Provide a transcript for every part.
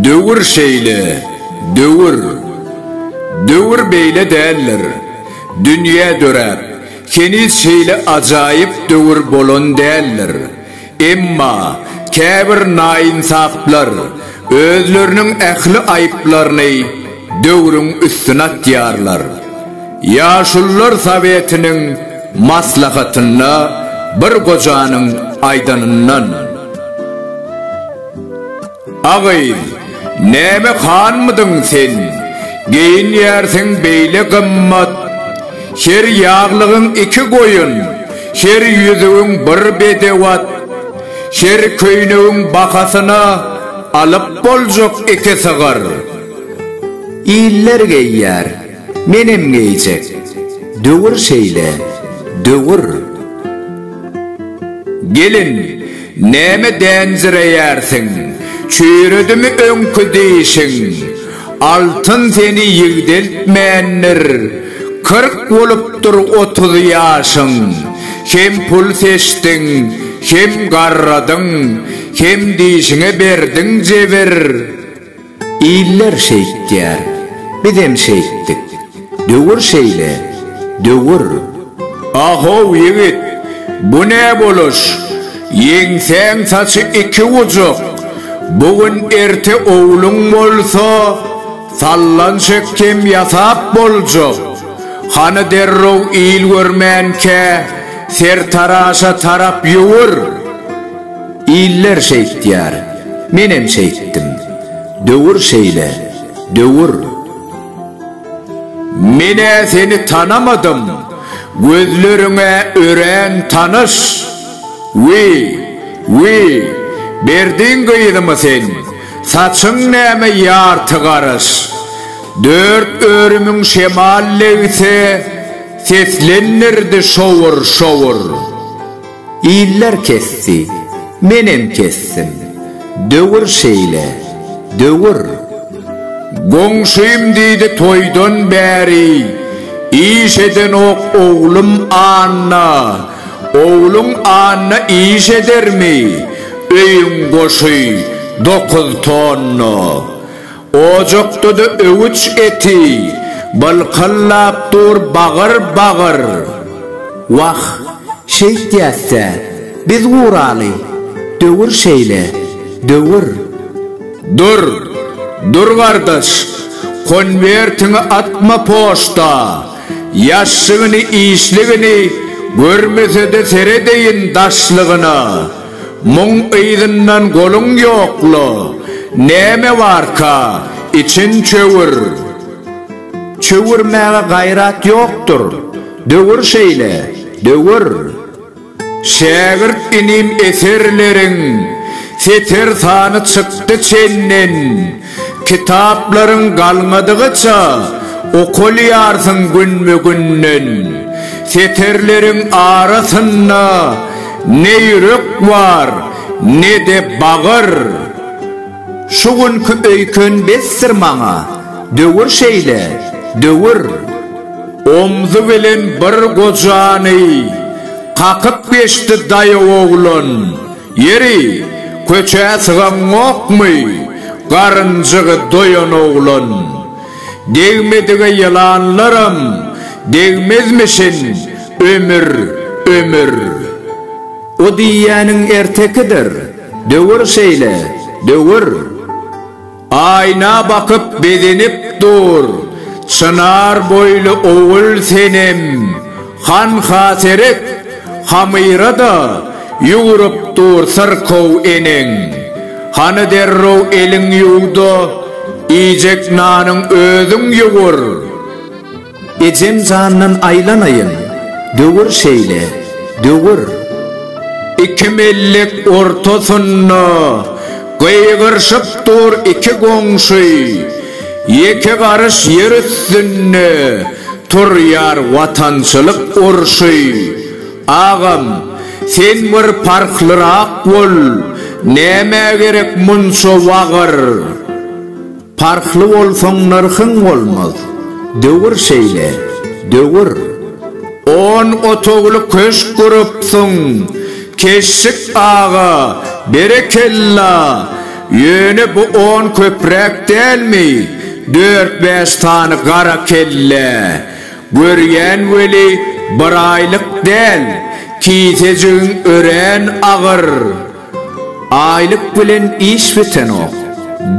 Döwür şeýle, döwür. Döwür beýle däldir. Dünýä döräp, heniz şeýle ajaýyp döwür bolan däldir. Emma käbir naýynsaplar özleriniň ähli aýyplaryny döwrüň üstüne atýarlar. Ýaşulular sowetiniň maslahatynda bir gojanyň aýdanyndan. A gyz, näme hanmydyň sen? Geýinýärsiň beýle gymmat. Her ýaglygyň iki goýun, her ýüzügiň bir bedew at. Her köýnegiň bahasyna alyp boljak iki sygyr. Iller geýýär. Menem geýjek. Döwür şeýle, döwür. Gelin, näme dänjireýärsiň? Çüýredimi öňki dişiň? Altyn seni ýigdeltmändir. Kyrk bolupdyr otuz ýaşyň. Hem pul seçdiň, hem garradyň, hem dişiňe berdiň jebir. Iller şeýtýär, bizem şeýtdik. Döwür şeýle, döwür. A-how, ýigit, bu ne boluş? Ýeňsäň saçy iki gujuk. Bu gün erte ogluň bolsa, sallan çekkem ýasap boljak. Hany derrew il görmänkä, sertaraşa tarap ýüwür. Iller şeýtýär, menem şeýtdim. Döwür şeýle, döwür. Men-ä seni tanamadym, gözleriň-ä örän tanyş. Wi, wi, berdiň gyzymy sen, saçyň näme ýarty garyş. Dört örümiň şemal legsi, seslendirdi şowur-şowur. Iller kesdi, menem kesdim. Döwür şeýle, döwür. Goňşym diýdi toýdan bäri, Iş edenok oglum Anna. Ogluň Anna iş edermi? Öýüň goşy dokuz tonna. Ojakda-da öwüç eti bylkyllap dur bagyr-bagyr. Wah, şeýtýäs-dä, biz guraly, döwür şeýle, döwür. Dur, dur gardaş, konwertiňi atma poçta, ýaşşygyny-işligini görmese-de seredeýin daşlygyna. Muň yzyndan goluň ýokla, näme barka, içiň çöwür. Çöwürmäge gaýrat ýokdur, döwür şeýle, döwür. Şägirt inim eserleriň seter sany çykdy çenden. Kitaplaryň galmadygyça okalýarsyň günbe-günden. Setirleriň arasynda ne ýürek bar, ne-de bagyr. Şu günki öýken besdir maňa, döwür şeýle, döwür. Omzy bilen bir gojany kakyp geçdi daýaw oglan. Ýeri, köçä sygaňokmy? Garynjygy doýan oglan. Degmedige ýylanlaram degmezmişin, ömür, ömür. O diýýäniň ertekidir. Döwür şeýle, döwür. Aýna bakyp begenip dur. Çynar boýly ogul Senem hanha seret, Hamyra-da ýugrup dur syrkaw eneň. Hany derrew eliň ýuw-da, iýjek nanyň özüň ýugur. Ejem jandan aýlanaýyn, döwür şeýle, döwür. Iki mellik ortasynda gygyryşyp dur iki goňşy, Ýeke garyş ýer üstünde turýar watançylyk urşy. Agam, sen bir parhlyrak bol, nämä gerek munça wagyr? Parhly bolsaň nyrhyň bolmaz. Döwür şeýle, döwür. On otagly köşk gurupsyň, Keşşik aga, berekella! Ýöne bu on köpräk dälmi, dört-bäş sany gara kellä? Görýän weli, biraýlyk däl, kisejigiň örän agyr. Aýlyk bilen iş bitenok.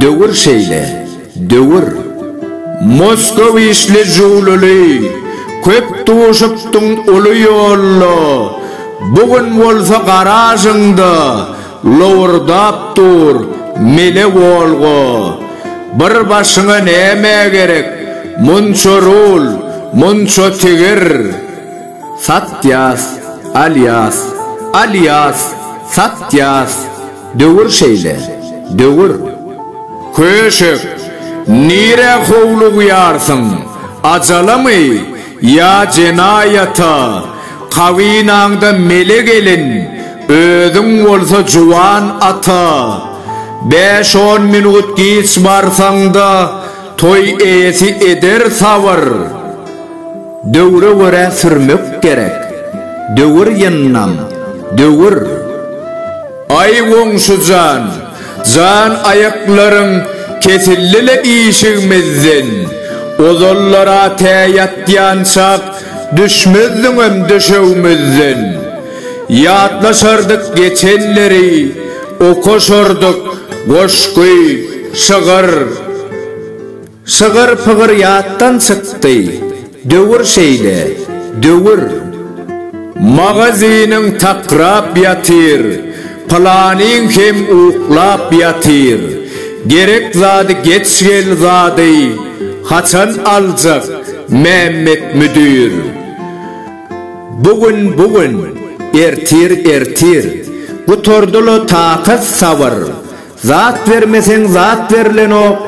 Döwür şeýle. Döwür. Moskow işli jüwlüli, köp duşupdyň uly ýolda, bu gün bolsa garažyňda lowurdap dur mele Wolga. Bir başyňa näme gerek, munça rul, munça tigir. Satýas, alýas, alýas, satýas, döwür şeýle, döwür. Köşek, nirä howlugýarsyň, ajalamy ýa jenaýata, kabynaňda mele gelin, özüň bolsa juwan ata. Bäş-on minut giç barsaň-da, toý eýesi eder sabyr. Döwre görä sürmek gerek. Döwür ýyndam, döwür. Aý goňşujan, jan aýaklaryň kesildi-le işigimizden, ozallar-a tä ýatýançak düşmezdiňem döşegimizden. Ýatlaşardyk geçenleri, okaşardyk goşgy, şygyr. Şygyr-pygyr ýatdan çykdy. Döwür şeýle, döwür. Magazynyň takrap ýatyr, Pylanyň hem uklap ýatyr. Gerek zady geç gel zady, Haçan aljak Mämmet müdir? Bu gün, bu gün, ertir, ertir, Gutardy-la takat-sabyr. Zat bermeseň zat berlenok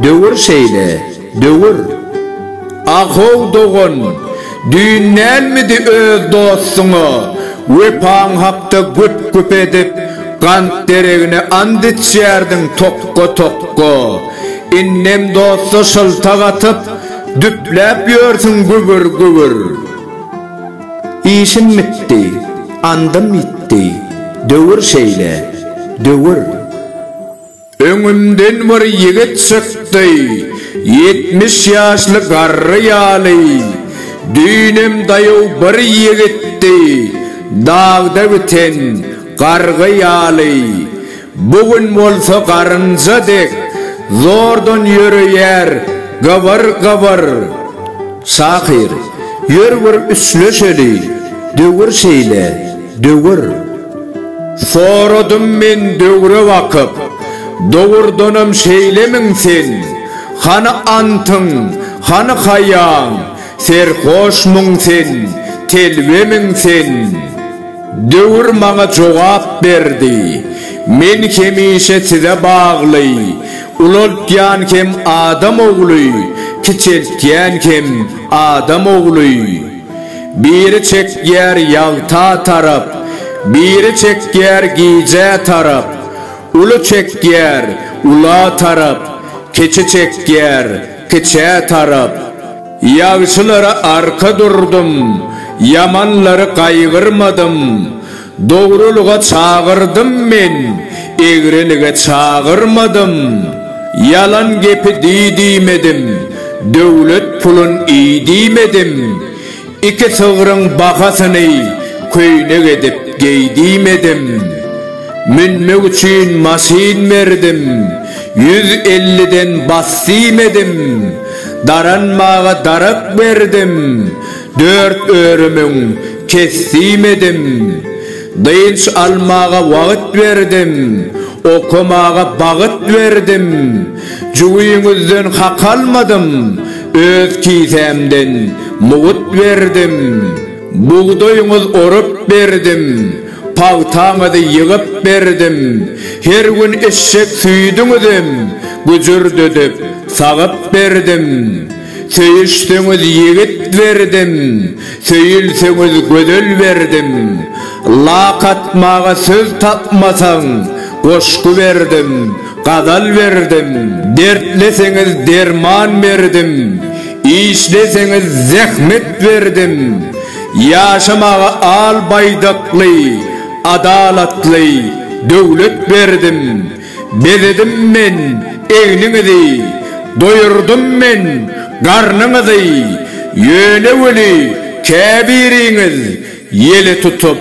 döwür şeýle döwür. Ahow dogan, düýn dälmidi öz dostuňa wepaň hakda güp-güp edip, gant deregine ant içýärdiň tokga-tokga. Indem dosta şyltak atyp, düpläp ýörsüň gübür-gübür. Işim bitdi, andym ýitdi, döwür şeýle, döwür. Öňümden bir ýigit çykdy, ýetmiş ýaşly garry ýaly, düýnem daýaw bir ýigitdi, dagda biten gargy ýaly. Bu gün bolsa garynja dek zordan ýöreýär gybyr gybyr. Şahyr, ýör bir üsleşeli, döwür şeýle, döwür. Soradym men döwre bakyp, dogurdanam şeýlemiň sen? Hany antyň, hany haýaň, serhoşmyň sen, telbemiň sen? Döwür maňa jogap berdi. Men hemişe size bagly. Ulaltýan hem adam ogly, kiçeltýän hem adam ogly. Biri çekýär ýagta tarap, biri çekýär gijä tarap. Uly çekýär ula tarap, kiçi çekýär kiçä tarap. Ýagşylara arka durdum, ýamanlary gaýgyrmadym. Dogrulyga çagyrdym men, egrilige çagyrmadym. Ýalan gepi di diýmedim, döwlet pulun iý diýmedim. Iki sygryň bahasyny köýnek edip geý diýmedim. Münmek üçin maşyn berdim, ýüz elliden bas diýmedim. Daranmaga darak berdim, dört örümüň kesdim edim. Dynç almaga wagyt berdim, okamaga bagyt berdim. Jübiňizden hak almadym, öz kisämden mugyt berdim. Bugdaýyňyz orup berdim. Pagtaňyzy ýygyp berdim. Her gün eşek süýdüňizem güjürdedip, sagyp berdim. Söýüşseňiz ýigit berdim, söýülseňiz gözel berdim. Lak atmaga söz tapmasaň, goşgy berdim, gazal berdim. Dertleseňiz derman berdim, işleseňiz zähmet berdim. Ýaşamaga al baýdakly, adalatly döwlet berdim, Bezedim men egniňizi, doýurdym men garnyňyzy, Ýöne weli käbiriňiz ýele tutup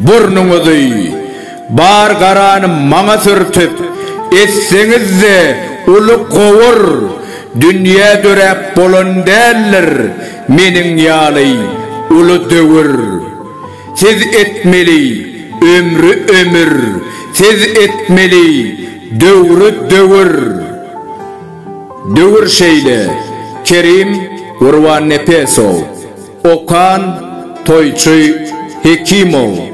burnuňyzy, Bar garany maňa sürtüp, etseňiz-de uly gowur, Dünýä döräp bolan däldir, Meniň ýaly uly döwür Siz etmeli ömri ömür Siz etmeli döwri döwür Döwür şeýle Kerim Gurbannepesow Okan Toýçy Hekimow.